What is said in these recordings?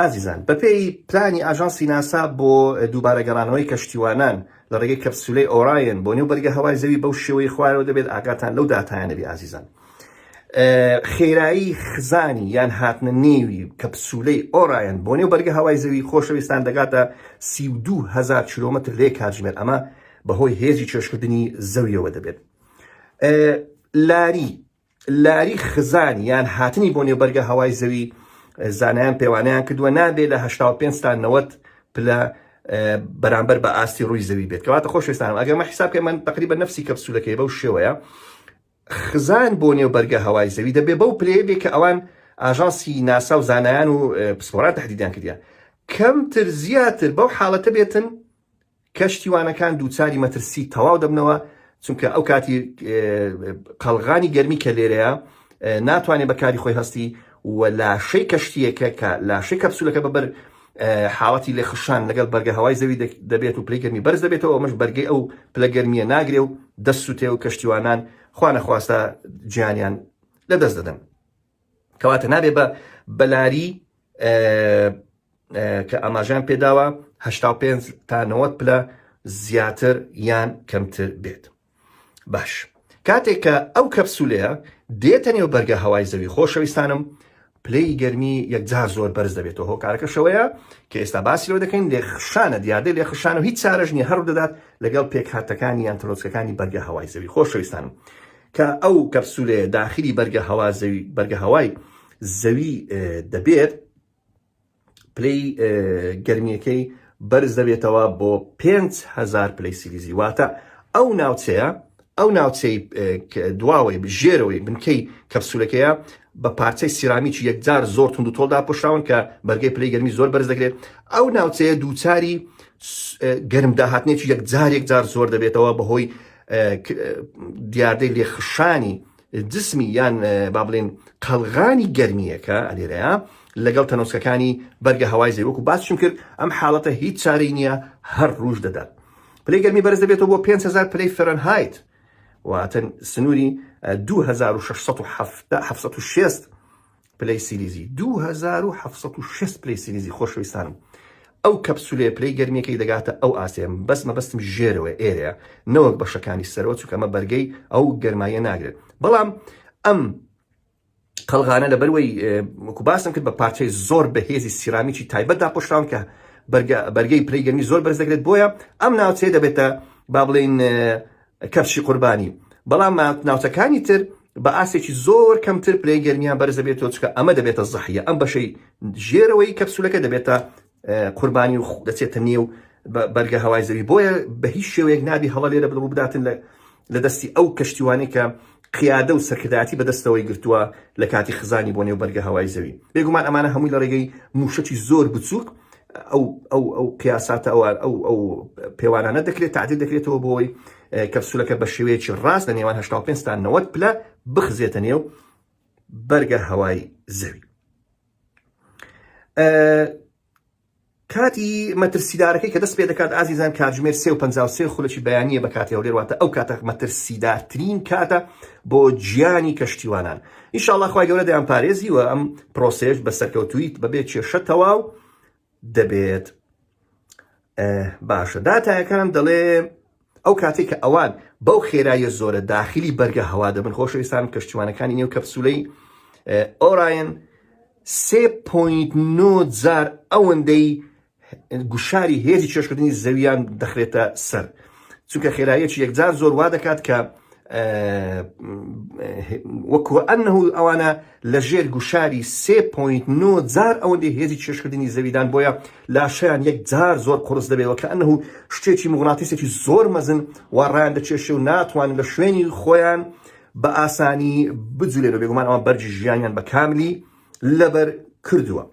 ئازیزان، بەپێی پلانی ئاژانسی ناسا بۆ دووبارە گەڕانەوەی کەشتیوانان لە ڕێگەی کەپسولەی ئۆرایۆن بۆ نێو بەرگە هەوای زەوی بەو شێوەی خوارەوە دەبێت ئاگاتان لەو داتایانە بێ ئازیزان خێرایی خزانی یان هاتنە نێوی کەپسولەی ئۆرایەن بۆ نێو بەرگە هەوای زەوی خۆشەویستان دەگاتە 32هزار کیلومتر لێ کاتژمێر ئەمە بەهۆی هێزی چێشکردنی زەویەوە دەبێت لاری لاری خزان یان هاتنی بۆ نێو بەرگە هەوای زەوی زانایان پێوانەیان کردووە نابێ لە هەشتا و پێنج تا نەوەد پلە بەرامبەر بە ئاستی ڕووی زەوی بێت کەواتە خۆشویستانم ئەگەر مە حیساب کە من تقریبا نفسی کەپسولەکەی بەو شێوەیە خزان بۆ نێو بەرگە هەوای زەوی دەبێ بەو پلەیە بێ کە ئەوان ئاژانسی ناسا و زانایان و پسپۆران تهدیدیان کردیان کەمتر زیاتر بەو حاڵەتە بێتن کەشتیوانەکان دووچاری مەترسی تەواو دەبنەوە، چونکە ئەو کاتی قەڵغانی گەرمی کە لێرەیە ناتوانێت بە کاری خۆی هەستی و لاشەی کەشتییەکە کە لاشەی کەپسولەکە بە بەر حاڵەتی لێ خشان لەگەڵ بەرگە هەوای زەوی دەبێت و پلەی گەرمی بەرز دەبێتەوە ئەمەش بەرگەی ئەو پلە گەرمیە ناگرێ و دەست سوتێ و کەشتیوانان خوا نەخواستە گیانیان لەدەست دەدەن. کەواتە نابێ بە بەلاری کە ئاماژان پێداوە 85 تا 90 پلە زیاتر یان کەمتر بێت باش کاتێک کە ئەو کەپسولەیە دێتە نێو بەرگە هەوای زەوی خۆشەویستانم پلەی گەرمی یەکجار زۆر بەرز دەبێتەوە هۆکارەکە شەوەیە کە ئێستا باسی لەوە دەکەین لێ خشانە دیاردەی لێ خشان و هیچ چارەژنی هەڕ دەدات لەگەڵ پێکهاتەکانی یان ترۆسکەکانی بەرگە هەوای زەوی خۆشەویستانم کە ئەو کەپسولەیە داخلی بەرگە هەوا زەوی بەرگە هەوای زەوی دەبێت پلەی گەرمیەکەی بەرز دەبێتەوە بۆ 5هزار پلەی سیلیزی واتە ئەو ناوچەیە ئەو ناوچەی دواوەی ژێرەوەی بنکەی کەپسولەکەیە بە پارچەی سیرامیکی یەکجار زۆر تونند و تۆڵدا پشراون کە بەرگەی پلی گەرمی زۆر بەرز دەگرێت ئەو ناوچەیە دووچاری گەرم داهاتنێکی یەکجار یەکجار زۆر دەبێتەوە بەهۆی دیاردەی لێخشانی جسمی یان با بڵێن قەلغانی گەرمیەکە ئەلێرەیە لەگەڵ تەنۆسکەکانی بەرگە هەوای زەوەک و باسشم کرد ئەم حاڵەتە هیچ چارەی نییە هەر ڕوژ دەدات پلەی گەرمی بەرز دەبێتەوە بۆ 500 پلەی فەرەنهایت واتەن سنووری 2660 پلەی سیلیزی دوو هەزار و حەفت سەد و شەست پلەی سیلیزی خۆشەویستانم ئەو کەپسولەیە پلەی گەرمیەکەی دەگاتە ئەو ئاستەیە بەس مەبەستم ژێرەوەی ئێرەیە نەوەک بەشەکانی سەرەوە چونکە ئەمە بەرگەی ئەو گەرماییە ناگرێت بەڵام ئەم قەلغانە لەبەروەی وەکو باسم کرد بە پارچەی زۆر بەهێزی سیرامیکی تایبەت داپۆشراون کە بەرگە- بەرگەی پلەی گەرمی زۆر بەرز دەگرێت بۆیە ئەم ناوچەیە دەبێتە با بڵێین کەپشی قوربانی، بەڵام ناوچەکانی تر بە ئاستێکی زۆر کەمتر پلەی گەرمیان بەرز دەبێتەوە، چونکە ئەمە دەبێتە زەحیە، ئەم بەشەی ژێرەوەی کەپسولەکە دەبێتە قوربانی و دەچێتە نێو بەرگە هەوای زەوی، بۆیە بە هیچ شێوەیەک نابی هەڵە لێرە بڵ ڕووبداتن لە دەستی ئەو کەشتیوانەی کە قیادە و سەرکردایەتی بە دەستەوەی گرتووە لە کاتی خزانی بۆ نێو بەرگە هەوای زەوی، بێگومان ئەمانە هەمووی لە ڕێگەی مووشەکی زۆر بچووک ئەو ئەو ئەو قیاساتە ئەو ئەو ئەو پێوانانە دەکرێت تعدیل دەکرێتەوە بۆی کەپسولەکە بە شێوەیەکی ڕاست لە نێوان 85 تا 90 پلە بخزێتە نێو بەرگە هەوای زەوی کاتی مەترسیدارەکەی کە دەست پێ دەکات ئازیزان کاتژمێر سێ و پ خولەکی بەیانە بە کاتی هەولێر واتە ئەو کاتە مەترسیدارترین کاتە بۆ گیانی کەشتیوانان ان شاء اللە خوای گەورە دەیان پارێزی و ئەم پرۆسەیەش بە سەرکەوتوویی بەبێ کێشە تەواو دەبێت باشە داتایەکان دەڵێ ئەو کاتێک کە ئەوان بەو خێراییە زۆرە داخلی بەرگە هەوا دەبن خۆشەویستان کەشتیوانەکانی نێو کەپسولەی ئۆراین 3.9 جار ئەوەندەی گوشاری هێزی چێژکردنی زەوییان دەخرێتە سەر، چونکە خێراییەکی یەکجار زۆر وا دەکات کە وەکوئەنەهو ئەوانە لە ژێر گوشاری سێ پۆینت نۆ جار ئەوەندەی هێزی چێژکردنی زەویدان بۆیە لاشەیان یەکجار زۆر قوڕس دەبێت وەکەئەنەهو شتێکی موغناتیسێکی زۆر مەزن وا ڕایان دەکێشێ و ناتوانن لە شوێنی خۆیان بە ئاسانی بجولێنەوە بێگومان ئەوان بەرگی ژیانیان بە کاملی لەبەر کردووە.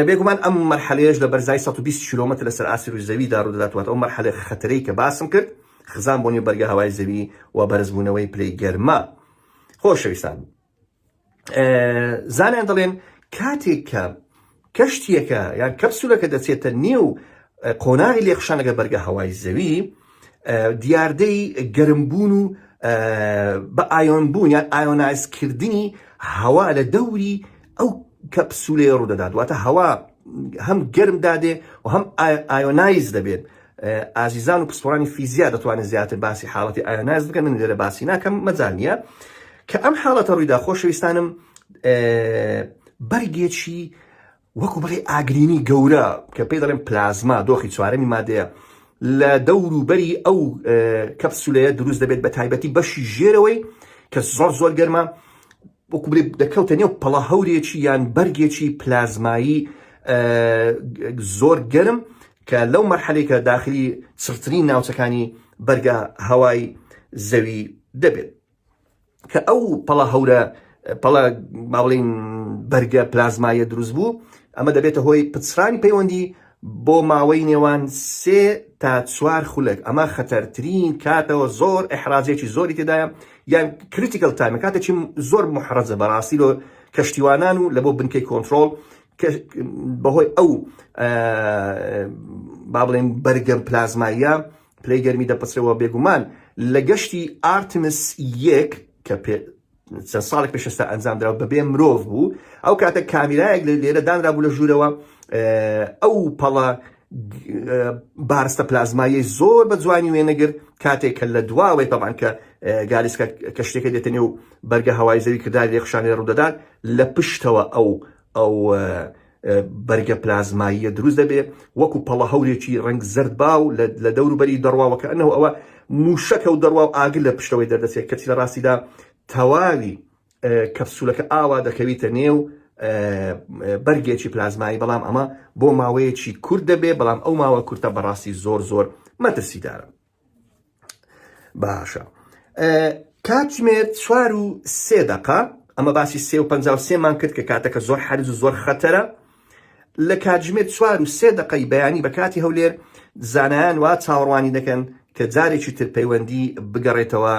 بێگومان ئەم مەرحەلەیەش لە بەرزای 120 کیلۆمەتر لەسەر ئاستی رووی زەویدا ڕوودەداتوات ئەو مەرحەلە خەتەرەی کە باسم کرد خزان بۆ نێو بەرگە هەوای زەوی و بەرزبوونەوەی پلەی گەرما خۆشەویستان زانیان دەڵێن کاتێک کە کەشتیەکە یان کەپسولەکە دەچێتە نێو قۆناغی لێخشانەکە بەرگە هەوای زەوی دیاردەی گەرمبوون و بە ئایۆنبوون یان ئایۆنایزکردنی هەوا لە دەوری ئەو کەپسولەیە ڕوودەدات واتە هەوا هەم گەرم دادێ و هەم ئایۆنایز دەبێت ئازیزان و پسپۆرانی فیزیا دەتوانێت زیاتر باسی حاڵەتی ئایۆنایز بکەن من لێرە باسی ناکەم مەجال نییە کە ئەم حاڵەتە ڕوویدا خۆشەویستانم بەرگێکی وەکو بڵێی ئاگرینی گەورە کە پێی دەڵێن پلازما دۆخی چوارەمی مادەیە لە دەورو بەری ئەو کەپسولەیە دروست دەبێت بە تایبەتی بەشی ژێرەوەی کە زۆر زۆر گەرمە وەکو بڵێ دەکەوتە نێو پەڵە هەورێکی یان بەرگێکی پلازمایی زۆر گەرم کە لەو مەرحەلێکە داخلی چڕترین ناوچەکانی بەرگە هەوای زەوی دەبێت کە ئەو پەڵە هەورە پەڵە با بڵێین بەرگە پلازمایە دروست بوو ئەمە دەبێتە هۆی پچڕانی پەیوەندی بۆ ماوەی نێوان سێ تا چوار خولەک ئەمە خەتەرترین کاتەوە زۆر ئەحراجێکی زۆری تێدایە یان کریتیکل تایمە کاتێکی زۆر محرەزە بەڕاستی لۆ کەشتیوانان و لە بۆ بنکەی کۆنتترۆل بەهۆی ئەو با بڵێن بەرگەم پلازماییە پلەی گەرمی دەپچڕێەوە، بێگومان لە گەشتی ئارتمس یەک کە چەند ساڵێک پێش ئێستا ئەنجامدرا و بەبێ مرۆڤ بوو، ئەو کاتە کامیرایەک لە لێرە دانرابوو لە ژوورەوە ئەو پەڵە بارستە پلازماییەی زۆر بە جوانی وێنەگر کاتێک کە لە دواوەی تەبان کە گالیسکە کەشتێکە دێتە نێو بەرگە هەوای زەوی کرداری لێخشانێ ڕوودەدات لە پشتەوە ئەو ئەو بەرگە پلازماییە دروست دەبێت وەکو پەڵە هەورێکی ڕنگ زرد باو لە دەوروبەری دەڕواوە کە ئەنەوە ئەوە موشەکە و دەڕوا و ئاگر لە پشتەوەی دەردەچێت کەچی لە ڕاستیدا تەواوی کەپسولەکە ئاوا دەکەویتە نێو بەرگێکی پلازمایی بەڵام ئەمە بۆ ماوەیەکی کورت دەبێت بەڵام ئەو ماوە کورتە بەڕاستی زۆر زۆر مەترسیدارە باشە کاتژمێر چوار و سێ دەقە ئەمە باسی سێ و پ سێمان کرد کە کاتەکە زۆر حرز و زۆر خەتەرە لە کاتژمێر چوار و سێ دقەی بەیانی بە کاتی هەولێر زانایان وا چاوەڕوانی دەکەن کە جارێکی تر پەیوەندی بگەڕێتەوە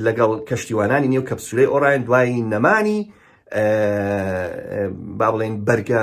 لەگەڵ کەشتیوانانی نێو کەپسولەی ئۆراین دوایی نەمانی با بڵێن بەرگە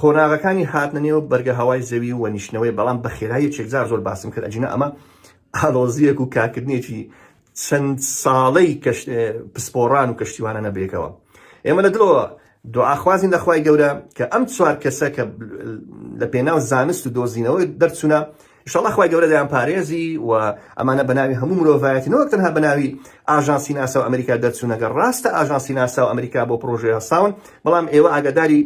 قۆناغەکانی هاتنە نێو بەرگە هەوای زەوی و نیشتنەوەی بەڵام بە خێرای یەکێک جار زۆر باسم کرد ئەگینا ئەمە ئاڵۆزییەک و کارکردنێکی چەند ساڵەی کەش پسپۆڕان و کەشتیوانە نەبێکەوە ئێمە لە دڵەوە دوعاخوازین لە خوای گەورە کە ئەم چوار کەسە کە لە پێناو زانست و دۆزینەوە دەرچوونە شڵە خخوای گەورە دەیان پارێزی و ئەمانە بەناوی هەموو مرۆڤایەتی نەوەک تەنها بەناوی ئاژانسی ناسا و ئەمریکا دەرچوونەگە ڕاستە ئاژانسی ناسا و ئەمریکا بۆ پرۆژەیە ساون بەڵام ئێوە ئاگداری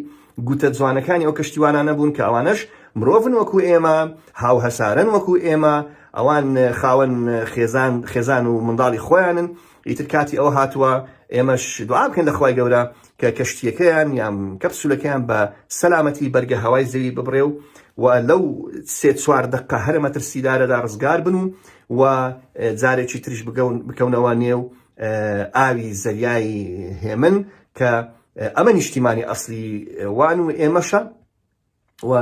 گوتە جوانەکانی ئەو کەشتیوانانە بوون کە ئەوانەش مرۆڤن وەکو ئێمە، هاوهەسارن وەکو ئێمە، ئەوان خاوەن خێزان خێزان و منداڵی خۆیانن، ئیتر کاتی ئەوە هاتووە ئێمەش دوعا بکەین لە خوای گەورە کە کەشتییەکەیان یان کەپسولەکەیان بە سەلامەتی بەرگە هەوای زەوی ببڕێ و و لەو سێ چوار دەقە هەرە مەترسیدارەدا ڕزگار بن و و جارێکی تریش بکەونەوە نێو ئاوی زەریای هێمن کە ئەمە نیشتیمانی ئەسڵی وان و ئێمەشە و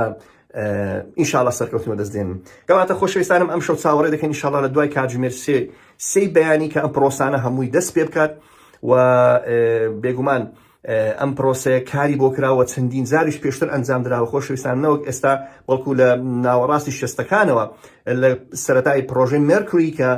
ان شاء الله سەرکەوتن بەدەست دێنین کەواتە خۆشەویستانم ئەمشەو چاوەڕێ دەکەین ان شاء الله لە دوای کاتژمێر سێ سێی بەیانی کە ئەم پرۆسانە هەمووی دەست پێ بکات و بێگومان ئەم پرۆسەیە کاری بۆ کراوە چەندین زاریش پێشتر ئەنجام دراوە خۆشویستان نەوەک ئێستا بەڵکو لە ناوەڕاستی شەستەکانەوە لە سەتای پرۆژەی مێرکری کە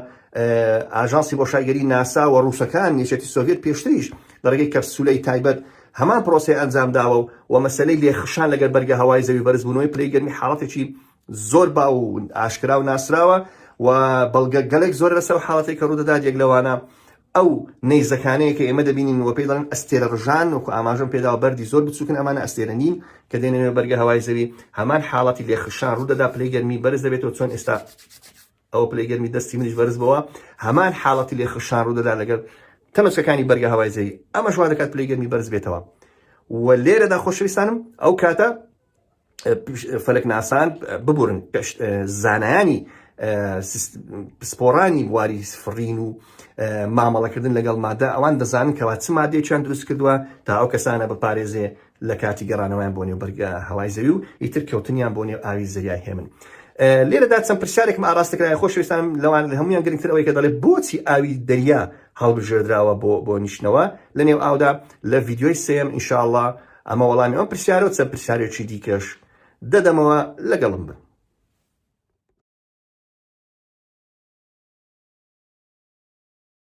ئاژانسی بۆ شایگەری ناسا و ڕووسەکان یەکێتی سۆڤێت پێشتریش لە ڕێگەی کەپسولەی تایبەت هەمان پرۆسەی ئەنجامداوە و و مەسەلەی لێکخشان لەگەر بەرگە هەوای زەوی بەرزبوونەوەی پلەی گەرمی حاڵەتێکی زۆر باو و ئاشکرا و ناسراوە و بەڵگە گەلێک زۆرە لەسەر ئەو حاڵەتەی کە ڕوودەدات یەک لەوانە ئەو نەیزەکانەیە کە ئێمە دەبینین و پێی دەڵێن ئەستێرە ڕژان وەکو ئاماژەم پێداوە بەردی زۆر بچووکن ئەمانە ئەستێرە نین کە دێنەوێ بەرگە هەوای زەوی هەمان حاڵەتی لێخشان ڕوودەدا پلەی گەرمی بەرز دەبێتەوە چۆن ئێستا ئەوە پلەی گەرمی دەستی منیش بەرز بۆوە، هەمان حاڵەتی لێخشان ڕوودەدات لەگەڵ تەمەچکەکانی بەرگە هەوای زەوی، ئەمەش وا دەکات پلەی گەرمی بەرز بێتەوە و لێرەدا خۆشەویستانم ئەو کاتە فەلەکناسان ببورن پشت زانایانی پسپۆڕانی بواری فڕین و مامەڵەکردن لەگەڵ مادە ئەوان دەزانن کەوا چ مادەیەکیان دروست کردووە تا ئەو کەسانە بپارێزێ لە کاتی گەڕانەوەیان بۆ نێو بەرگە هەوای زەوی و ئیتر کەوتنیان بۆ نێو ئاوی زەریای هێمن لێرەدا چەند پرسیارێکم ئاراستە کرای خۆشویستانم لەوان لە هەمویان گرنگتر ئەوەی کە دەڵێت بۆچی ئاوی دەریا هەڵبژێردراوە بۆ بۆ نیشتنەوە لە نێو ئاودا لە ڤیددیۆی سم ئینشاءله ئەمە وەڵامی ئەم پرسیارە و چەند پرسیارێکی دیکەش دەدەمەوە لەگەڵم بن